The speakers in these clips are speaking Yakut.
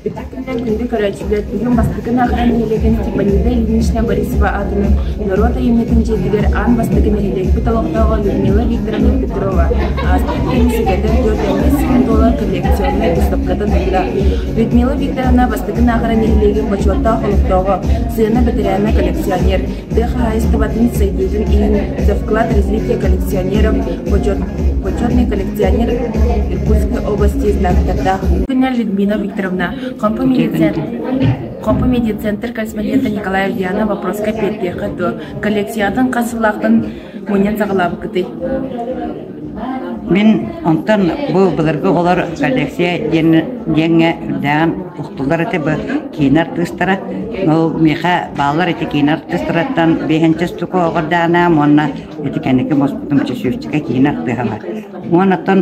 Итах күнүнэн күндү көрөөччүлэр үһүн бастакы наахара нэһилиэгин Степанида Ильинична Борисова аатынан норуот айымньытын дьиэтигэр аан бастакы нэһилиэкпит олохтооҕо Людмила Викторовна Петрова ааспыт киһини сэгэтэр түөрт эмиэ сүүн туолар коллекционнай выставкатын ылла. Людмила Викторовна бастакы наахара нэһилиэгин бочуоттаах олохтооҕо, сыана бэтэрээнэ, коллекционер. тыа хаһаайыстыбатын сайдыытын иһин завклад развития коллекционеров почетный коллекционер иркутской области знактардаах күннэ людмила викторовна хомпу медицентр косметика николай ульянов вопроска биэрдиэххэ дуо коллекциятын хас сыллаахтан мунньан саҕалаабыккытый? Мин онтон бу былыргы олор Алексей диэн диэҥҥэ үрдээҕин устуллар этэ бу киин артыыстара. Ол миэхэ бааллар эти киин артыыстараттан биэһэнчэ стуку оҕордаанаам уонна ити кэнники муспутум чөчүөччүкэ киин артыыһалар. Уон оттон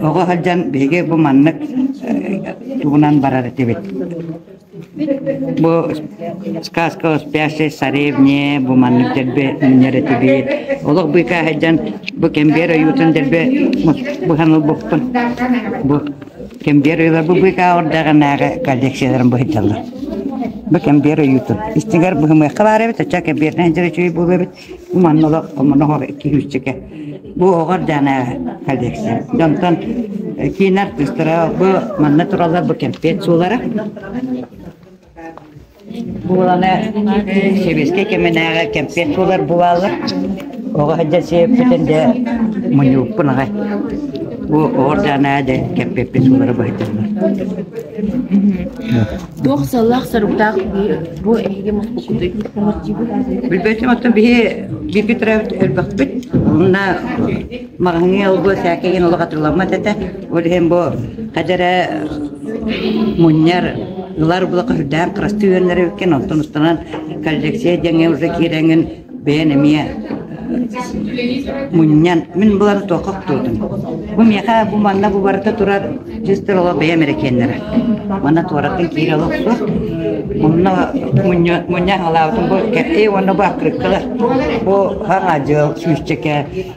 оҕо сылдьан биһиги бу маннык э, тугунан барар этибит. Бу сказка о спящей царевне, бу маннык дэрбэ мунньар этибиит. Олох быыкаа сылдьан бу кэмбиэр ойуутун дэрбэ быһан ылбыппын. Бу кэмбиэр ыла бу быыкаа ордаҕынааҕы коллекцияларым быһыддаллар. Бу кэмбиэр ойуутун. Истиҥэр быһымыахха баар эбит, оччо кэмбиэринэн дьэрэ үчүгэй буолуо эбит. Манна да омоноҕор киһииччэкэ. Бу оҕор дьаана коллекция. Дьонтон киин артыыстара бу манна туралар бу кэмпиэт суулара. Буоланы сэбиэскэй кэминээҕи кэмпиэт суулар буолалар. Оҕо хадьа сиэппитин дэ муньууппун аҕай. Бу оҕор дьаана дэ кэмпиэппит суулара быһыттылар. Туох сыаллаах-соруктаах дии, бу эһиги муспуккутуй? Билбэтим, оттон биһи бииргэ төрөөбүт өлбөхпүт. Онно маҕаһыҥҥа олгуо сээкэйин олох атырыламмат этэ. Ол иһин бу хадьара мунньар ылар булака үрдээн кырастыы үөннэрэ үккен, оттон устанан коллекция дьэҥэ уже киирэҥин бэйэн эмиэ мунньан мин булан туохха охтуутун бу миэхэ бу манна бу барыта турар дьизтэр олох бэйэм эрекиэннэрэ манна туораттан киирэ олох суох мунна мунньа аҕалаабытым бу кэппи уонна бу аккырыккалар бу хаҥа дьыал сүүсчэкэ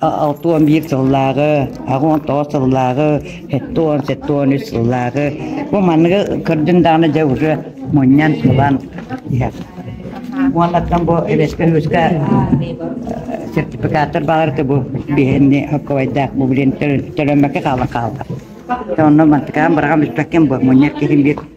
Алта уон биир сыллааҕы, аҕа уон тоҕус сыллааҕы, сэттэ уон, сэттэ уон үс сыллааҕы бу манныгы көрдүн даҕаны дьэ уже мунньан ылан уоннаттан бу эбэскэ үһүскэ сертификаттар баҕарыты бу биһэнни хоккуйдаах бу билин төлөммөккө хаалан хаалда. Онно мантыкаан быраҕан бүппэккин бу мунньар киһин биир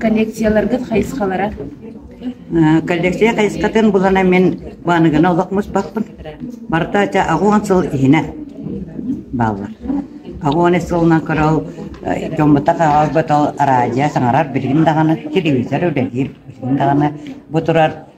Коллекцияларгыт хайысхалара? Коллекция хайысхатын булана мин Бааныгына олох муспаппын. Барыта ча аҕуон сыл иһинэ бааллар. Аҕуон ис сылынан көрөл дьоммутах аҕалбытал араадьа саҥарар билигин даҕаны телевизор үлэлиир билигин даҕаны бу турар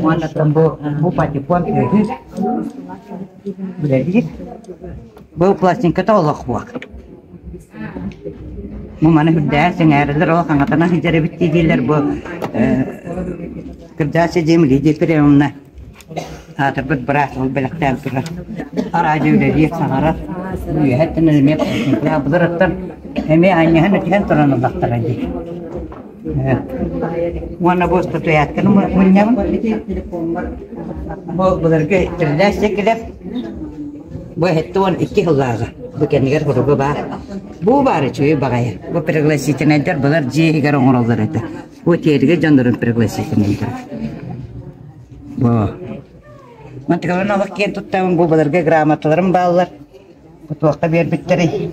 уонна бу бу патефон үһүс үлэлиир бу пластинката олох буок бу маны үрдээн сэҥээрилэр ол хаҥатана сылдьар эбит диилэр бу кырдаас дьиэм Лидия Перевна аатырбыт быраас ол бэлэхтээн турар араадьа үлэлиир саҥарар үөһэттэн эмиэ пластинкалар абылырыттан эмиэ анньыһан этиһэн туран ыллахтара дии Уонна бу статуэтканы мунньабын. Бу былыргы тирилээх сикилеп бу эттэ уон икки сыллааҕа. Бу кэмигэр буругу баар. Бу баар үчүгэй баҕайы. Бу пригласительнайдар былар дьиэһигэр оҥороллор этэ. Бу тиэргэ дьондорун пригласительнайдар. Бу. Ман тыгылын олох киэн туттабын бу былыргы грамоталарым бааллар. Кутуохха биэрбиттэрий.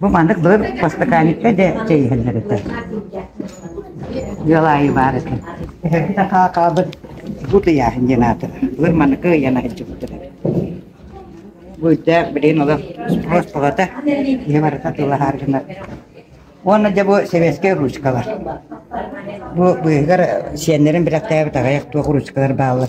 Бу маннык былыр постаканикка да чэй иһэллэр этэ. Ыал аайы баар этэ. Эһэрбит акаакаабыт бут ыйааһын диэн аата. Былыр маннык ыйан аһылдьыбыттар. Бу үрдээх, билин олох спроспалата, ihe барыта тыллаһаар гынар. Уонна дьэ бу сэбиэскэй ручкалар. Бу быыһыгар сиэннэрин бэлэхтээбит аҕайах туох ручкалар бааллар.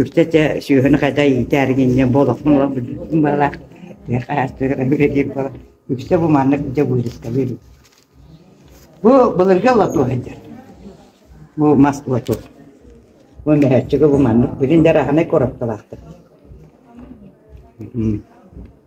үрдэ дьэ сүөһүнү хайда иитээри гинньэн буолахмын була бүлдүрдүм бала хаастыыр буола үксэ бу маннык дьэ быырыскалыыр бу былыргы лоту сылдьар бу Москва тут бу мөһөөччүгэ бу маннык билин дэр аханай коропталаахтар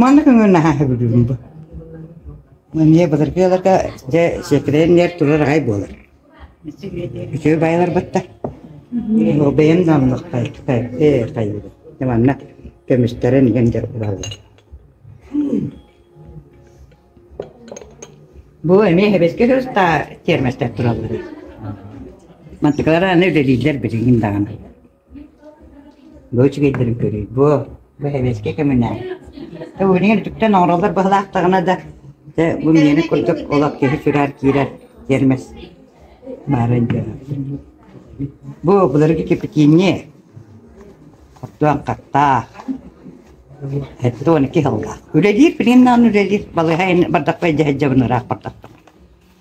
Манна көҥөр наһаа сөбүлүүрүм бу. Эмиэ былыргы ыалларга дьэ сиэкилээн иҥэр турар аҕай буолар. Үтүө байалар батта. Бэйэм да оннук хайыы хайыыра. Манна көмүстэрин иҥэн дьэ ураллар. Бу эмиэ сэбэскэ сырта тиэрмэстэр тураллар. Мантыкалара аны үлэлииллэр билигин даҕаны. Бу үчүгэйдэрин көрүү буо, бу сэбиэскэй көмүнээн. Та быйылгы үтүктэн оҥороллор быһылаахтаҕына да, дэ бу миэни курдук олох киһи сүрээр киирэр тиэрмэс баарын дьоно. Бу былыргы кипятиини оттуон хаттаах эттэ уон икки сыллаах. Үлэлиир, билиннээн үлэлиир балыһа ин бардахпай дьэһэдьэбин ыраах бардахтым.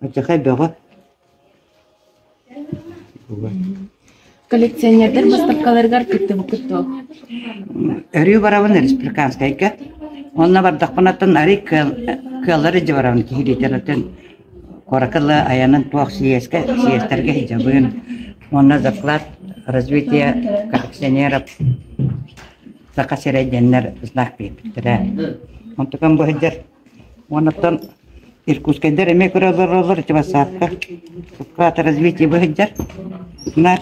Адьахай бөҕө Коллекционердар быыстапкаларыгар кыттыбыккыт дуо? Өрүү барабын республиканскайга. Онно бардахпынаттан арый кыаллар илдьэ барабын киһи литератын куоракылы айанын туох сийиэскэ сийиэстэргэ иһдьабын. Онно заклад развитие коллекционеров Саха сирэй диэннэр знак биэрбиттэрэ. Онтукан бу сылдьар Уонаттан иркутскайдар эмиэ көрөлөрөлөр ити бассаапка уккаата развитие быһыддьар нар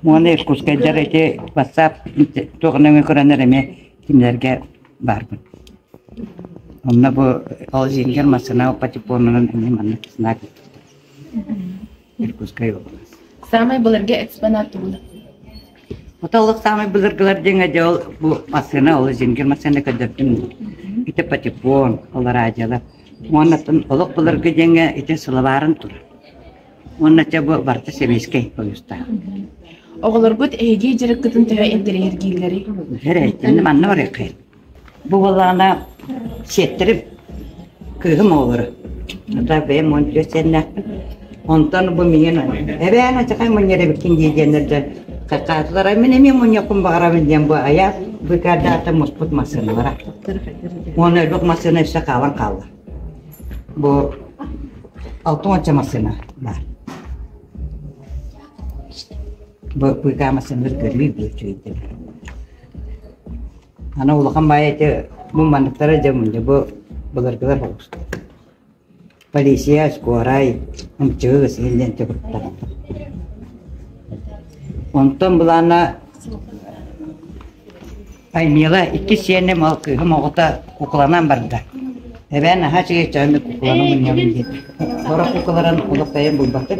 уонна иркутскайдар ити бассаап туох нөҥү көрөнөр эмиэ кинилэргэ баарбын онно бу холодильнигар массыына потепонунан эмиэ маннык знак Дьокуускай область. Саамай былыргы экспонат тугун? Отоллох саамай былыргылар диэҥэ дьэ ол бу массыына ол зингер массыына көрдөрдүм. Ити патефон, алараадьалар. Уоннаттан олох былыргы диэҥэ ити сылабарын турар. Уоннача бу барта сэбиэскэй поездтаах. Оҕолоргут эһиги дьарыккытын төһө интэриэһиргииллэрий? Бэрэ, иннэ манна барыаххын. Бу балаҕана сиэттэрим кыыһым оҕолоро. Наташа бэйэм уон төрүөт сиэннээхпин. Онтон бу миигин эбээн ачакай мунньар эбиккин дии диэннэрдэн хакаатылара мин эмиэ мунньаккын баҕарабын диэн бу айаат быкардаата муспут массыыналара. Уонна өлбөх массыына үссе хаалан хаалла. Бу алты уонча массыына бар. Бу быыкаа массыыналар көрүү бүөтчүйдүм. Аны улахан баайа ити бу манныктара дьэ мунньа бу былыргылар оҕуста. Полиция, скорай, ымчыгы кысыһыллыан төкүртара. Онтон былаана Аймила иккис сиэним ол кыыһым оҕото кукланан барда. Эбээн наһаа чигэччэҕин кукланы мунньабын диэн. Сорох куклаларын олохтойон булбаттык.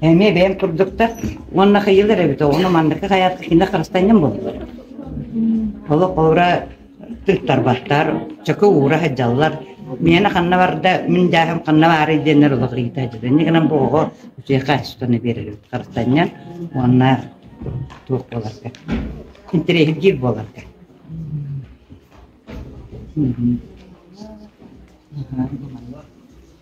Эмиэ бэйэм курдуктар уонна хыйылар эбит оҕону маннык хайаатка кинэ харыстанньым бу олох уура тыыттарбаттар чөкө уура садьаллар миэнэ ханна барда мин дьааһым ханна баарый диэннэр олох ыйыта дьитэнни гынан бу оҕо үтүөхэ астаны биэрэр харыстанньан уонна туох буоларга интэриэһиргиир буоларга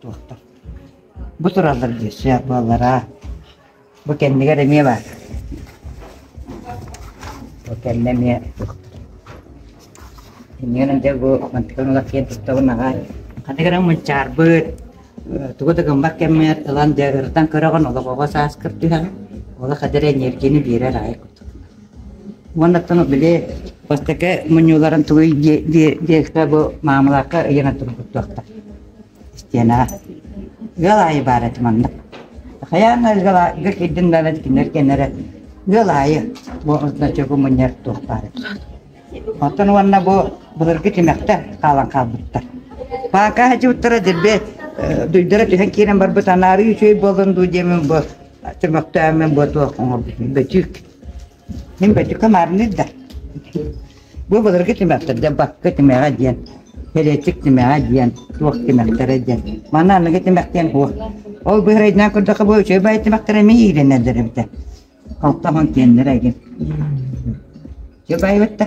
Туохтар? Бу тураллар диир суйах буоллараа. Бу кэннигэр эмиэ баар. Бу кэннэ эмиэ Иннигэн дьэ бу мантыкан улах киэн туттабын аҕай. Хатыгыран мунчаарбыт, тугу да гыммат кэммэр ылан дьагыртан көрөҕүн олоҕоҕо сааскыр түһэҕин. Ола хадыр энергияны биэрэр аай кутук. Уоннаттан били бастакы мунньууларын тугуй диэххэ бу маамылаакка ыйана турбуттуохтар. Стена. Ыал аайы баар этим маннык. Хайаан ыал аайы кирдин баара кинилэр кэннэрэ ыал аайы бу значогу мунньар туох баар Оттон уонна бу былыргы тимэхтэ хаалан хаалбыттар. Паака хадьыттара дирбе дуйдара түһэн киирэн барбыт анаарыы үчүгэй болун дуу диэмин бу түмөктөөмүн бу туох оҥорбутун бөтүүк Мин бөтүкэ маарныыр да. Бу былыргы тимэхтэр да бакка тимэҕэ диэн, кэлэчик тимэҕэ диэн, туох тимэхтэрэ диэн. Манна аныгы тимэхтэн буо. Ол быһырайдынан көрдөхө бу үчүгэй бай тимэхтэрэ мин иирэнэллэр эбитэ. Халтаһон киэннэрэ эгин. Чөбайбытта.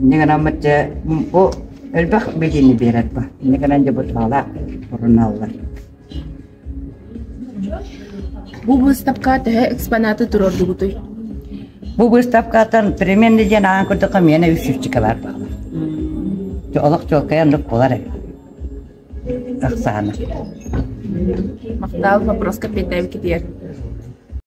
инньэ гынаммыт дьэ бу элбэх билиини биэрэр ба инньэ гынан дьэ бутаалаах туруналлар Бу быыстапка төһө экспонаты турордугутуй? Бу быыстапкаттан переменный диэн аан курдук миэнэ үс сүрчүкэ бар баалар. Олох чуолкайан лук болар ыксаана. Мактаал вопрос капитаев китиер.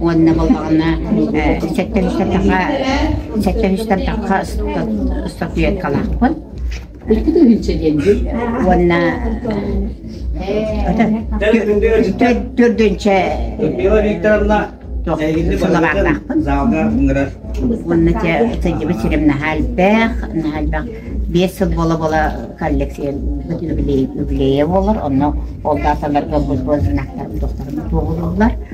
уонна буоллаҕына сэттэлистэрдахха сэттэлистэрдахха ыстатуэткалаахпын уонна төрдүнчэ сылабаахнаахпын уонна сылдьыбыт сирим наһаа элбэх наһаа элбэх биэс сыл бола-бола коллекция юбилея буолар онно ол дааталарга бу знактар тохтарым туоҕулууллар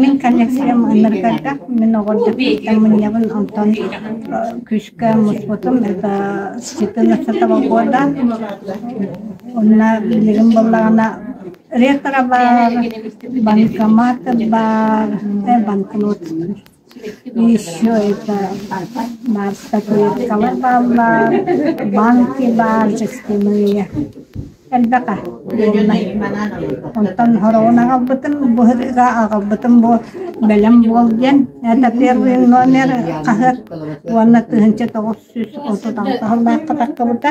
Мин коллекциям ыныргата, мин оҕордоттан мунньабын, онтон күүскэ муспутум, это ситин астатаба года. Онна билигин боллаҕына ретро бар, банкомат бар, банкнот. Еще это маастакылыткалар бааллар, банки баар, жестяные. Элбэхэ дииллэр. Онтон хороҕун аҕалбытым, бу ырыга аҕалбытым бу бэлэм буол диэн. Это первый номер хаһыат уонна тыһыынча тоҕус сүүс отут алта сыллаахха тахсыбыта.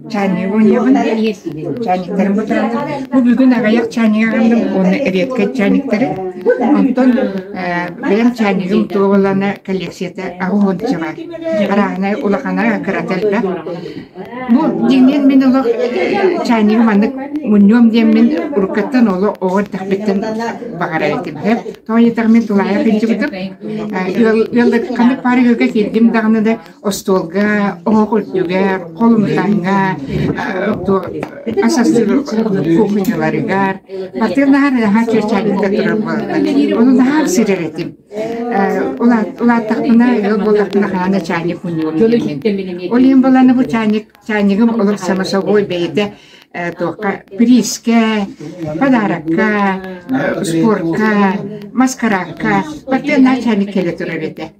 чайнигы уйабын чайниктарым бутуранар бу бүгүн аҕыйах чайнигы аҕаллым уонна редкай чайниктары онтон бэйэм чайнигым туоҕулана коллекцията аҕыһын дьабар арааһынай улахана кырата элбэх бу дьиҥнэн мин олох чайнигы маннык мунньуом диэммин уруккаттан оло оҕор тахпиттэн баҕарар этим сөп тооньытаҕын тулаайах илдьибитим ыаллыкканы пар ыалга кииргим даҕаны да остуолга, оһох үрдүгэ, холумтаҥҥа, кухняларыгар, бартын наһаа наһаа чэрчээнникэ турар буолла. Ону наһаа сирер этим. Улааттахпына, ыал буоллахпына хаһан чайник мунньуурум. Ол иһин буланы бу чайник, чайнигым олох самособой бэйэтэ туохха приискэ, подарокка, спортка, маскаракка, бартын наһаа чайник келе турар этэ.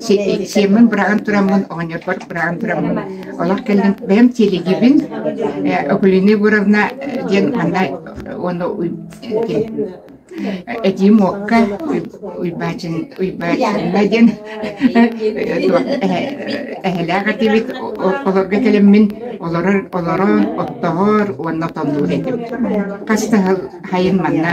сиэммин быраҕан тураммын, оҕонньорбор быраҕан тураммын. Олох кэллим, бэйэм тиэлигибин Окулина Егоровна диэн манна уонна Эдим Окка Уйбаачынна диэн эһэлээх этибит олорго кэлэммин олорор олорор оттоһор уонна тоннуур этим хас да сайын манна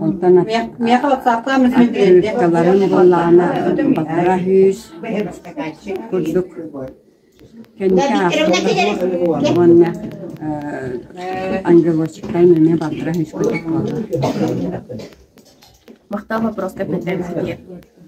Онтон открыткаларын буллаана батара үһүс курдук кэнники аахтылар уонна ангелочкай эмиэ батара үһүс курдук буолла. Махтал вопроска передать